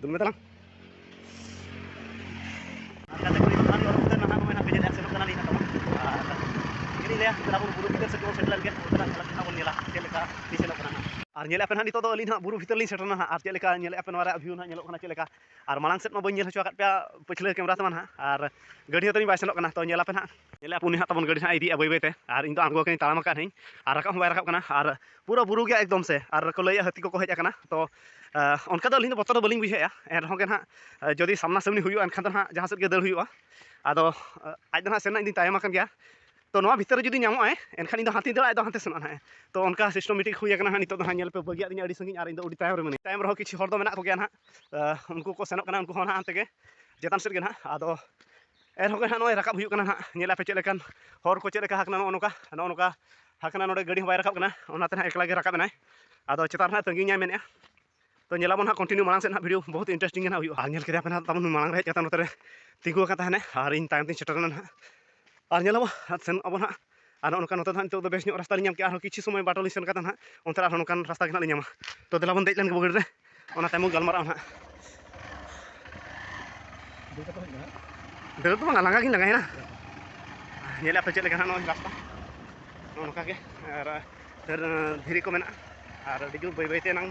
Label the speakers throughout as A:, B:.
A: ᱫᱩᱞ ᱢᱮ ᱛᱟᱞᱟᱝ ᱟᱨ ᱧᱮᱞᱮᱫ ᱯᱮ ᱱᱟᱦᱟᱜ ᱱᱤᱛᱚᱜ ᱫᱚ ᱟᱹᱞᱤᱧ ᱱᱟᱦᱟᱜ ᱵᱩᱨᱩ ᱵᱷᱤᱛᱟᱹᱨ ᱞᱤᱧ ᱥᱮᱴᱮᱨ ᱱᱟᱦᱟᱜ ᱟᱨ ᱪᱮᱫ ᱞᱮᱠᱟ ᱧᱮᱞᱮᱫ ᱯᱮ ᱱᱚᱣᱟ ᱨᱮᱭᱟᱜ ᱵᱷᱤᱭᱩ ᱱᱟᱦᱟᱜ ᱧᱮᱞᱚᱜ ᱠᱟᱱᱟ ᱪᱮᱫ ᱞᱮᱠᱟ ᱟᱨ ᱢᱟᱲᱟᱝ ᱥᱮᱫ ᱢᱟ ᱵᱟᱹᱧ ᱧᱮᱞ ᱦᱚᱪᱚ ᱟᱠᱟᱫ ᱯᱮᱭᱟ ᱯᱟᱹᱪᱷᱞᱟᱹ ᱠᱮᱢᱮᱨᱟ ᱛᱮᱢᱟ ᱱᱟᱦᱟᱜ ᱟᱨ ᱜᱟᱹᱰᱤ ᱦᱚᱸ ᱛᱟᱹᱞᱤᱧ ᱵᱟᱭ ᱥᱮᱱᱚᱜ ᱠᱟᱱᱟ ᱛᱚ ᱧᱮᱞ ᱟᱯᱮ ᱱᱟᱦᱟᱜ ᱧᱮᱞᱮ ᱟᱯᱩᱱᱤ ᱦᱟᱸᱜ ᱛᱟᱵᱚᱱ ᱜᱟᱹᱰᱤ ᱦᱟᱸᱜ ᱤᱫᱤᱭᱮᱜᱼᱟ ᱵᱟᱹᱭ ᱵᱟᱹᱭᱛᱮ ᱟᱨ ᱤᱧ ᱫᱚ ᱟᱬᱜᱚ ᱟᱠᱟᱱᱟᱹᱧ ᱛᱟᱲᱟᱢ ᱟᱠᱟᱫ ᱟᱹᱧ ᱟᱨ ᱨᱟᱠᱟᱵ ᱦᱚᱸ ᱵᱟᱭ ᱨᱟᱠᱟᱵ ᱠᱟᱱᱟ ᱟᱨ ᱯᱩᱨᱟᱹ ᱵᱩᱨᱩ ᱜᱮᱭᱟ ᱮᱠᱫᱚᱢ ᱥᱮ ᱟᱨ ᱠᱚ ᱞᱟᱹᱭᱟ ᱦᱟᱹᱛᱤ ᱠᱚᱠᱚ ᱦᱮᱡ ᱟᱠᱟᱱᱟ ᱛᱚ ᱚᱱᱠᱟ ᱫᱚ ᱟᱹᱞᱤᱧ ᱫᱚ ᱵᱚᱛᱚᱨ ᱫᱚ ᱵᱟᱹᱞᱤᱧ ᱵᱩᱡᱷᱟᱹᱣᱮᱜᱼᱟ ᱮᱱ ᱨᱮᱦᱚᱸ ᱜᱮ ᱱᱟᱦᱟᱜ ᱡᱩᱫᱤ ᱥᱟᱢᱱᱟ ᱥᱟᱢᱱᱤ ᱦᱩᱭᱩᱜᱼᱟ ᱮᱱᱠᱷᱟᱱ ᱫᱚ ᱱᱟᱦᱟᱜ ᱡᱟᱦᱟᱸ ᱥᱮᱫ ᱜᱮ ᱫᱟᱹᱲ ᱦᱩᱭᱩᱜᱼᱟ ᱟᱫᱚ ᱟᱡ ᱫᱚ ᱱᱟᱦᱟᱜ ᱥᱮᱱ ᱨᱮᱱᱟᱜ ᱤᱧ ᱫᱩᱧ ᱛᱟᱭᱚᱢ ᱟᱠᱟᱱ ᱜᱮᱭᱟ ᱛᱚ ᱱᱚᱣᱟ ᱵᱷᱤᱛᱟᱹᱨ ᱨᱮ ᱡᱩᱫᱤ ᱧᱟᱢᱚᱜᱼᱟᱭ ᱮᱱᱠᱷᱟᱱ ᱤᱧ ᱫᱚ ᱦᱟᱱᱛᱮᱧ ᱫᱟᱹᱲᱟ ᱟᱡ ᱫᱚ ᱦᱟᱱᱛᱮ ᱥᱮᱱᱚᱜᱼᱟ ᱱᱟᱦᱟᱜ ᱛᱚ ᱚᱱᱠᱟ ᱥᱤᱥᱴᱮᱢ ᱢᱤᱫᱴᱤᱡ ᱦᱩᱭ ᱟᱠᱟᱱᱟ ᱱᱟᱦᱟᱜ ᱱᱤᱛᱚᱜ ᱫᱚ ᱦᱟᱸᱜ ᱧᱮᱞ ᱯᱮ ᱵᱟᱹᱜᱤᱭᱟᱜ ᱫᱤᱧᱟ ᱟᱹᱰᱤ ᱥᱟᱺᱜᱤᱧ ᱟᱨ ᱤᱧ ᱫᱚ ᱟᱹᱰᱤ ᱛᱟᱭᱚᱢ ᱨᱮ ᱢᱤᱱᱟᱹᱧᱟ ᱛᱟᱭᱚᱢ ᱨᱮᱦᱚᱸ ᱠᱤᱪᱷᱩ ᱦᱚᱲ ᱫᱚ ᱢᱮᱱᱟᱜ ᱠᱚᱜᱮᱭᱟ ᱱᱟᱦᱟᱜ ᱩᱱᱠᱩ ᱠᱚ ᱥᱮᱱᱚᱜ ᱠᱟᱱᱟ ᱩᱱᱠᱩ ᱦᱚᱸ ᱱᱟᱦᱟᱜ ᱦᱟᱱᱛᱮ ᱜᱮ ᱪᱮᱛᱟᱱ ᱥᱮᱫ ᱜᱮ ᱱᱟᱦᱟᱜ ᱟᱫᱚ ᱮᱱᱦᱚᱸ ᱜᱮ ᱦᱟᱸᱜ ᱱᱚᱜᱼᱚᱭ ᱨᱟᱠᱟᱵ ᱦᱩᱭᱩᱜ ᱠᱟᱱᱟ ᱦᱟᱸᱜ ᱧᱮᱞ ᱟᱯᱮ ᱪᱮᱫ ᱞᱮᱠᱟᱱ ᱦᱚᱨ ᱠᱚ ᱪᱮᱫ ᱞᱮᱠᱟ ᱦᱟᱠᱱᱟ ᱱᱚᱜᱼᱚ ᱱᱚᱝᱠᱟ ᱱᱚᱜᱼᱚ ᱱᱚᱝᱠᱟ ᱦᱟᱠᱱᱟ ᱱᱚᱰᱮ ᱜᱟᱹᱰᱤ ᱦᱚᱸ ᱵᱟᱭ ᱨᱟᱠᱟᱵ ᱠᱟᱱᱟ ᱚᱱᱟᱛᱮ ᱦᱟᱸᱜ ᱮᱠᱞᱟ ᱜᱮ ᱨᱟᱠᱟᱵ ᱮᱱᱟᱭ ᱟᱫᱚ ᱪᱮᱛᱟᱱ ᱨᱮ ᱛᱟᱹᱜᱤ ᱧᱟᱭ ᱢᱮᱱᱮᱜᱼᱟ ᱛᱚ ᱧᱮᱞᱟᱵᱚᱱ ᱦᱟᱸᱜ ᱠᱚᱱᱴᱤᱱᱤᱭᱩ ᱢᱟᱲᱟᱝ ᱥᱮᱫ ᱦᱟᱸᱜ ᱵᱷᱤᱰᱤᱭᱳ ᱵᱚᱦᱩᱛ ᱤᱱᱴᱟᱨᱮᱥᱴᱤᱝ ᱜᱮ ᱦᱟᱸᱜ ᱦᱩᱭᱩᱜᱼᱟ ᱟᱨ ᱧᱮᱞ ᱠᱮᱫᱟ ᱯᱮ ᱦᱟᱸᱜ ᱛᱟᱵᱚᱱ ᱢᱟᱲᱟᱝ ᱨᱮ ᱦᱮᱡ ᱠᱟᱛᱮ ᱱᱚᱛᱮ ᱨᱮ ᱛᱤᱸᱜᱩ ᱟᱠᱟᱱ ᱛᱟᱦᱮᱱᱟᱭ ᱟᱨ ᱤᱧ ᱛᱟᱭᱚᱢ ᱛᱤᱧ ᱥᱮᱴᱮᱨ ᱮᱱᱟ ᱦᱟᱸᱜ ᱟᱨ ᱧᱮᱞᱟᱵᱚᱱ ᱥᱮᱱᱚᱜ ᱟᱵᱚᱱ ᱦᱟᱸᱜ ᱟᱨ ᱱᱚᱜᱼᱚ ᱱᱚᱝᱠᱟ ᱱᱚᱛᱮ ᱫᱚ ᱦᱟᱸᱜ ᱱᱤᱛᱚᱜ ᱫᱚ ᱵᱮᱥ ᱧᱚᱜ ᱨᱟᱥᱛᱟ ᱞᱤᱧ ᱧᱟᱢ ᱠᱮᱜᱼᱟ ᱟᱨᱦᱚᱸ ᱠᱤᱪᱷᱩ ᱥᱚᱢᱚᱭ ᱵᱟᱴᱳᱞ ᱞᱤᱧ ᱥᱮᱱ ᱠᱟᱛᱮᱫ ᱦᱟᱸᱜ ᱚᱱᱛᱮ ᱨᱮ ᱟᱨᱦᱚᱸ ᱱᱚᱝᱠᱟᱱ ᱨᱟᱥᱛᱟ ᱜᱮ ᱦᱟᱸᱜ ᱞᱤᱧ ᱧᱟᱢᱟ ᱛᱚ ᱫᱮᱞᱟ ᱵᱚᱱ ᱫᱮᱡ ᱞᱮᱱ ᱜᱮ ᱵᱚᱜᱤ ᱨᱮ ᱚᱱᱟ ᱛᱟᱭᱚᱢ ᱵᱚᱱ ᱜᱟᱞᱢᱟᱨᱟᱜᱼᱟ ᱦᱟᱸᱜ ᱫᱟᱹᱲ ᱫᱚ ᱵᱟᱝ ᱞᱟᱸᱜᱟ ᱜᱤᱧ ᱞᱟᱸᱜᱟᱭᱮᱱᱟ ᱧᱮᱞᱮᱫ ᱟᱯᱮ ᱪᱮᱫ ᱞᱮᱠᱟ ᱦᱟᱸᱜ ᱱᱚᱜᱼᱚᱭ ᱨᱟᱥᱛᱟ ᱱᱚᱜᱼᱚ ᱱᱚᱝᱠᱟ ᱜᱮ ᱟᱨ ᱫᱷᱤᱨᱤ ᱠᱚ ᱢᱮᱱᱟᱜᱼᱟ ᱟᱨ ᱟᱹᱰᱤ ᱡᱳᱨ ᱵᱟᱹᱭ ᱵᱟᱹᱭ ᱛᱮ ᱮᱱᱟᱝ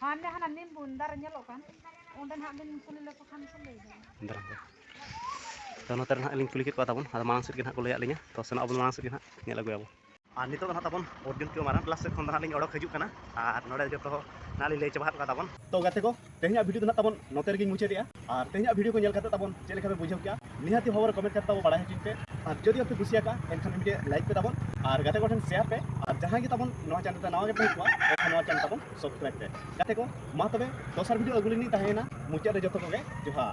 A: ᱦᱟᱱᱮ ᱦᱟᱱᱟ ᱱᱤᱢ ᱵᱩᱱ ᱫᱟᱨᱮ ᱧᱮᱞᱚᱜ ᱠᱟᱱ ᱚᱸᱰᱮ ᱱᱟᱦᱟᱜ ᱵᱤᱱ ᱠᱩᱞᱤ ᱞᱮᱠᱚ ᱠᱷᱟᱱ ᱠᱚ ᱞᱟᱹᱭ ᱫᱟᱲᱮᱭᱟᱜᱼᱟ ᱫᱟᱨᱟᱢ ᱠᱟᱱᱟ ᱛᱚ ᱱᱚᱛᱮ ᱨᱮ ᱱᱟᱦᱟᱜ ᱞᱤᱧ ᱠᱩᱞᱤ ᱠᱮᱫ ᱠᱚᱣᱟ ᱛᱟᱵᱚᱱ ᱟᱫᱚ ᱢᱟᱲᱟᱝ ᱥᱮᱫ ᱜᱮ ᱱᱟᱦᱟᱜ ᱠᱚ ᱞᱟᱹᱭᱟᱫ ᱞᱤᱧᱟ ᱛᱚ ᱥᱮᱱᱚᱜ ᱟᱵᱚᱱ ᱢᱟᱲᱟᱝ ᱥᱮᱫ ᱜᱮ ᱱᱟᱦᱟᱜ ᱧᱮᱞ ᱟᱹᱜᱩᱭᱟᱵᱚᱱ ᱟᱨ ᱱᱤᱛᱚᱜ ᱫᱚ ᱱᱟᱦᱟᱜ ᱛᱟᱵᱚᱱ ᱚᱨᱡᱩᱱ ᱠᱤᱭᱳ ᱢᱟᱨᱟᱝ ᱠᱞᱟᱥ ᱥᱮᱫ ᱠᱷᱚᱱ ᱫᱚ ᱱᱟᱦᱟᱜ ᱞᱤᱧ ᱚᱰᱚᱠ ᱦᱤᱡᱩᱜ ᱠᱟᱱᱟ ᱟᱨ ᱱᱚᱰᱮ ᱡᱚᱛᱚ ᱱᱟᱦᱟᱜ ᱞᱤᱧ ᱞᱟᱹᱭ ᱪᱟᱵᱟ ᱟᱠᱟᱫ ᱛᱟᱵᱚᱱ ᱛᱚ ᱜᱟᱛᱮ ᱠᱚ ᱛᱮᱦᱮᱧᱟᱜ ᱵᱷᱤᱰᱤᱭᱳ ᱫᱚ ᱱᱟᱦᱟᱜ ᱛᱟᱵᱚᱱ ᱱᱚᱛᱮ ᱨᱮᱜᱮᱧ ᱢᱩᱪᱟᱹᱫᱮᱜᱼᱟ ᱟᱨ ᱛᱮᱦᱮᱧᱟᱜ ᱵᱷᱤᱰᱤᱭᱳ ᱠᱚ ᱧᱮᱞ ᱠᱟᱛᱮ ᱛᱟᱵᱚᱱ ᱪᱮᱫ ᱞᱮᱠᱟ ᱯᱮ ᱵᱩᱡᱷᱟᱹᱣ ᱠᱮᱜᱼᱟ ᱱᱤᱦᱟᱹᱛᱤ ᱵᱷᱟᱵᱚᱨ ᱠᱚᱢᱮᱱᱴ ᱠᱟᱛᱮ ᱛᱟᱵᱚᱱ ᱵᱟᱲᱟᱭ ᱦᱚᱪᱚᱧ ᱯᱮ ᱟᱨ ᱡᱩᱫᱤ ᱟᱯᱮ ᱠᱩᱥᱤ ᱟᱠᱟᱜᱼᱟ ᱮᱱᱠᱷᱟᱱ ᱢᱤᱫᱴᱮᱡ ᱞᱟᱭᱤᱠ ᱯᱮ ᱛᱟᱵᱚᱱ ᱟᱨ ᱜᱟᱛᱮ ᱠᱚ ᱴᱷᱮᱱ ᱥᱮᱭᱟᱨ ᱯᱮ ᱟᱨ ᱡᱟᱦᱟᱸᱭ ᱜᱮ ᱛᱟᱵᱚᱱ ᱱᱚᱣᱟ ᱪᱮᱱᱮᱞ ᱨᱮ ᱱᱟᱣᱟ ᱜᱮ ᱯᱮ ᱦᱮᱡ ᱠᱚᱜᱼᱟ ᱮᱱᱠᱷᱟᱱ ᱱᱚᱣᱟ ᱪᱮᱱᱮᱞ ᱛᱟᱵᱚᱱ ᱥᱟᱵᱥᱠᱨᱟᱭᱤᱵ ᱯᱮ ᱜᱟᱛᱮ ᱠᱚ ᱢᱟ ᱛᱚᱵᱮ ᱫᱚᱥᱟᱨ ᱵᱷᱤᱰᱤᱭᱳ ᱟᱹᱜᱩ ᱞᱤᱧ ᱛᱟᱦᱮᱸᱭᱮᱱᱟ ᱢᱩᱪᱟᱹᱫ ᱨᱮ ᱡᱚᱛᱚ ᱠᱚᱜᱮ ᱡᱚᱦᱟᱨ